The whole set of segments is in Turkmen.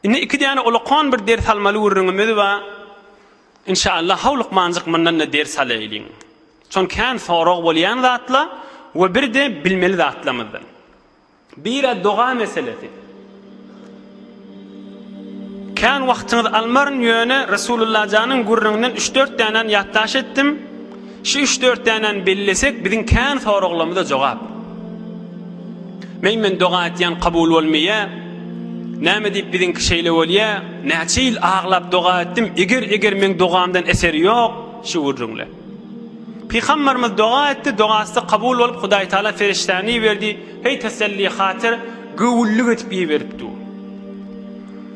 Indi iki däne ulakan bir ders almaly gürrüňimiz bar. Inşallah haw lukmanjyk mundan-da ders alaýlyň. Şon kän sorag bolýan zatla we birde bilmeli zatlamyzdan. Bira doga meselesi. Kän wagtyňyzy almaryn ýöne Resulullah janyň gürrüňinden üç-dört dänäni ýatdaş etdim. Şu üç-dört dänäni bellesek biziň kän soraglarymyza jogap. Meň men doga etýän kabul bolmaýa. Näme diýip biziňki şeýle bolýa. Näçe ýyl aglap doga etdim eger eger meň dogamdan eser ýok şu gürrüňle. Pygambarymyz doga etdi dogasy kabul bolup Hudaý Taala ferişdäni iberdi heý teselli hatyr göwünlik edip iberipdi.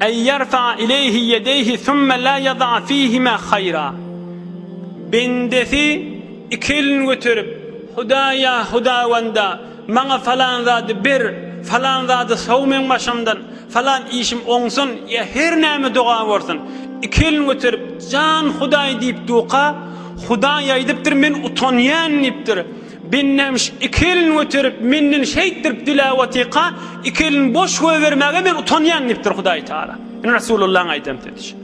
Ey yarfa ileyhi yedeyhi summe la yada fihima hayra. Bendesi iki elini göterip, Hudaýa, Hudawanda, maňa falan zady ber, falan zady sow meň başymdan, falan işim oňsun, ýa her näme doga bolsun, iki elini göterip, Jan Hudaý diýip duka, Hudaý aýdypdyr, men utanýan diýipdir. Bennemiş iki elini göterip, menden şeýtdirip diläp otyka, iki elini boş goýbermäge men utanýan diýipdir Hudaý Taala. Ine Resulullahyň aýdan sözi şu.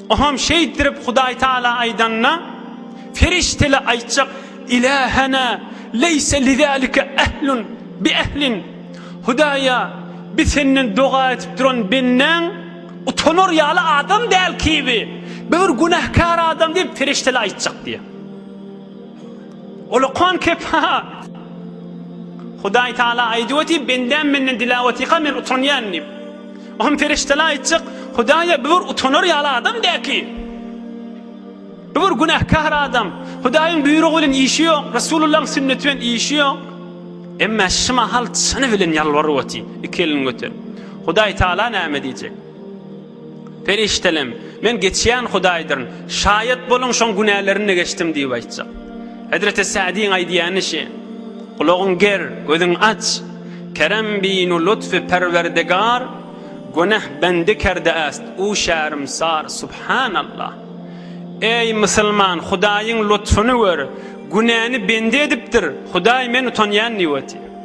Oňam şeýtdirip Hudaý Taala aýdanda, perişdele aýtjak, Ilähena leýse lizalika ehlun bi ehlin. Hudaýa, bi senden doga etip duran bendäň utanar ýaly adam däl kibi. Bi bir günäkär adam diýip perişdele aýtjak diýýär. Ulukhan kepa. Hudaý Taala aýdyp otyr, bendäm menden dilap otyka men utanýan diýip. Ohm perişdeler aýtjak, Hudaýa bu bir utanar ýaly adam däl ki. Bu bir günähkar adam. Hudaýyň buýrugy bilen işi ýok, Resulullahyň sünneti bilen işi ýok. Emma şu mahal çyny bilen ýalbaryp otyr, iki elini göterip. Hudaý Taala näme diýjek? Perişdelem, Men geçýän Hudaýdyryn. Şaýat boluň, şoň günälerini-de geçdim diýip aýtjak. Hezreti Sa'diň aýdýany şe. Gulagyň ger, gözüň aç. Kerem binu lutfy Perwerdigar, Guneh bendi kerde ast, u şärmsar, subhanallah. Eý, musulman, Hudaýyň lutfuny gör, günäni bendi edipdir, Hudaý, men utanýan diýip otyr.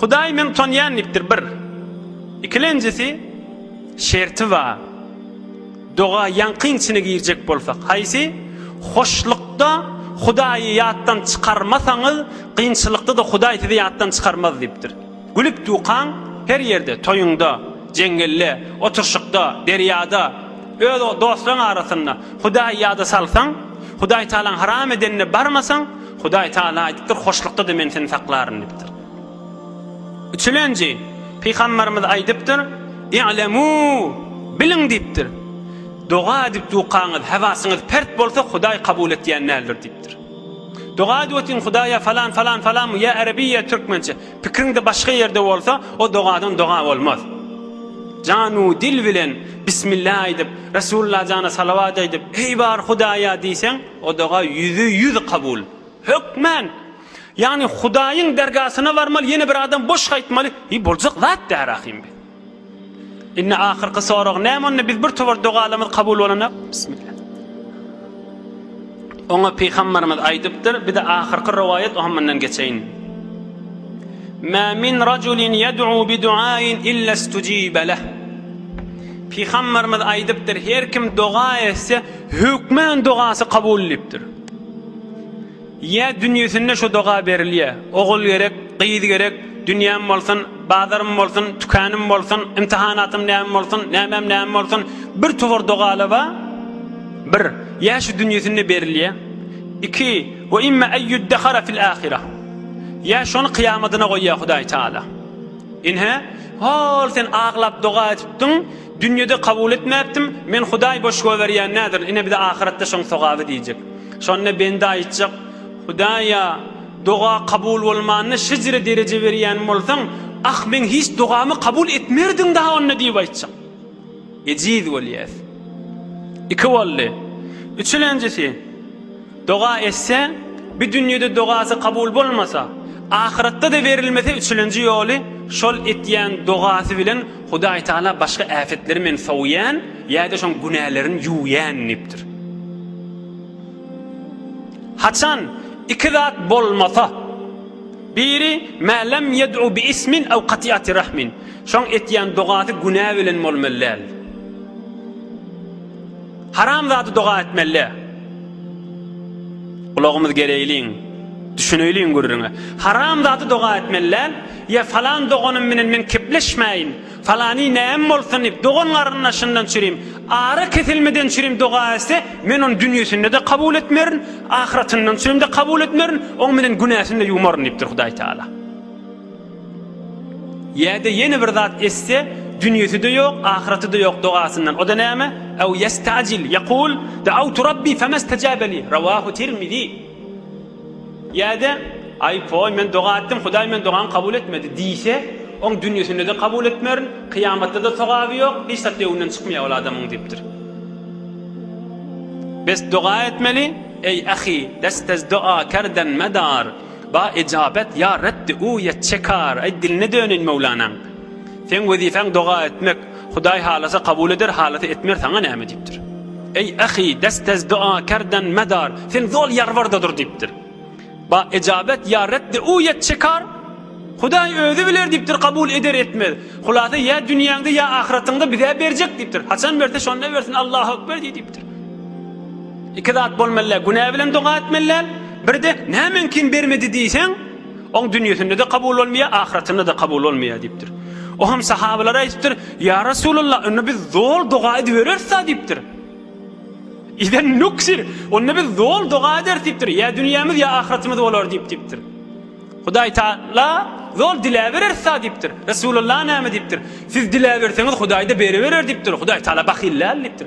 Hudaý meň tanýan diýipdir bir. Ikilenjisi şerti bar. Doga ýaňkyň içine girjek bolsak, haýsy? Hoşlukda Hudaýy ýatdan çykarmasaňyz, kynçylykda-da Hudaý sizi ýatdan çykarmaz diýipdir. Gülüp dukaň her ýerde, toýuňda, jeňňelde, oturşykda, derýada, öz dostlaryň arasynda Hudaýy ýada salsaň, Hudaýtagalaň haram edenine barmasaň, Hudaý Tagala aýdypdyr, Hoşlukda-da Men seni saklaryn diýipdir. Üçülenji, Pygamberimiz aýdypdyr, I'lemû, biliň diýipdir, Doga edip dukaňyz, hewasyňyz pert bolsa, Hudaý kabul etýän däldir diýipdir. Doga edip otyň Hudaýa falan, falan, falan, ýa Arabi, ýa Türkmençe. Pikriňde başga ýerde bolsa, o dogadan doga bolmaz. Janu dil bilen Bismillah aýdyp, Resulullah jana salawat aýdyp, Eý bar Hudaýa diýseň, O doga ýüze ýüz kabul. Hökmän. Ýagny Hudaýyň dergasyna barmaly, ýene bir adam boş gaýtmaly. Eý, boljak zat däl ahym bi. Indi ahyrky sorag näme onda biz bir tobar dogalamyz kabul bolanak? Bismillah. Oňa pygamberimiz aýdypdyr, bir de ahyrky rowaýat oňa mundan geçeýin. Ma min rajulin yad'u bi du'ain illa istujiba lah. Pygamberimiz aýdypdyr, her kim doga etse, Hökman dogasy kabul edipdir. Ýa dünýesinde şu doga berilýär. Ogul gerek, gyz gerek, dünýäm bolsun, bazarym bolsun, tükänim bolsun, imtihanatym näme bolsun, nämem näme bolsun, bir towar dogaly ba, bir, ýa şu dünýesinde berilýär. Iki, we imma en ýuddahara fil ahira. Ýa şony kyýamadyna goýýar Hudaý Taala. Ine, hol sen aglap doga edipdiň, Dünýede kabul etmäpdim, men Hudaý boş goýberýän näzir, ine bize ahyratda şoň sogaby diýjek. Şonda bende aýtjak, Hudaýa doga kabul bolmanda şejere dereje berýän bolsaň, ah meň hiç dogamy kabul etmerdiň daha onda diýip aýtjak. Ejiz bolýas. Iki boldy. Üçülenjisi. Doga etse, bi dünýede dogasy kabul bolmasa, ahyratda-da berilmese üçülenji ýoly şol etýän dogasy bilen Hudaý Taala başga äpetleri men sowýan ýa-da şoň günälerini ýuwýan diýipdir. Haçan iki zat bolmasa, biri ma lam ýed'u bi ismin aw kati'ati rahmin, şoň etýän dogasy günä bilen bolmaly däl. Haram zady doga etmelle. Ulagymyz gereýliň. Düşüneýliň gürrüňe. Haram zady doga etmelle. Ýa falan doganym bilen men kepleşmäýin. Falany näm bolsun diýip dogan garyndaşyndan çürim. Ara kesilmeden çürim doga etse, men ony dünýesinde-de kabul etmerin, ahyratyndan çürimde kabul etmerin, oň bilen günäsini-de ýumaryn diýipdir Hudaý Taala. Ýa-da ýene bir zat etse, dünýesi-de ýok, ahyraty-da ýok dogasyndan. O-da näme? Ew ýesta'jil, ýekul, Da'awtu Rabbi femestajaba li. Rawahu Tirmizi. Ýa-da, Aý, poý, men doga etdim, Hudaý meniň dogamy kabul etmedi diýse, oň dünýesinde-de kabul etmerin, kyýamatda-da sogaby ýok, hiç zat öňünden çykmaýar ol adamyň diýipdir. Bes doga etmeli, Eý, ahy, lestezdo'a kerden medar. Ba ejabet ýa Rebbi u ýet çekar, aý diline döneýin Möwlanaň. Seň wezifäň doga etmek, Hudaý halasa kabul eder halasa etmer saňa näme diýipdir. Eý ahy dest ez dua kerden medar, sen zol ýarbarda dur diýipdir. Ba ejabet ýa Rebbi u ýet çekar, Hudaý özi biler diýipdir kabul eder etmez. Hulasa ýa dünýäňde ýa ahyratyňda bizä berjek diýipdir. Haçan berse şonda bersin Allahu ekber diý diýip. Iki zat bolmalylar, günä bilen doga etmeliler, birde nämeňkin bermedi diýseň, oň dünýesinde-de kabul bolmaýar, ahyratynda-da kabul bolmaýar diýipdir. O hem sahabalara aýdypdyr, Ýa Resulallah, onda biz zol doga edibereris-ä diýipdir. Iden nuksir, onda biz zol doga ederis diýipdir, ýa dünýämiz, ýa ahyratymyz bolar diýip diýipdir. Hudaý Taala zol diläbereris-ä diýipdir. Resulallah näme diýipdir? Siz diläberseňiz Hudaý-da beriberer diýipdir. Hudaý Taala bahyl däl diýipdir.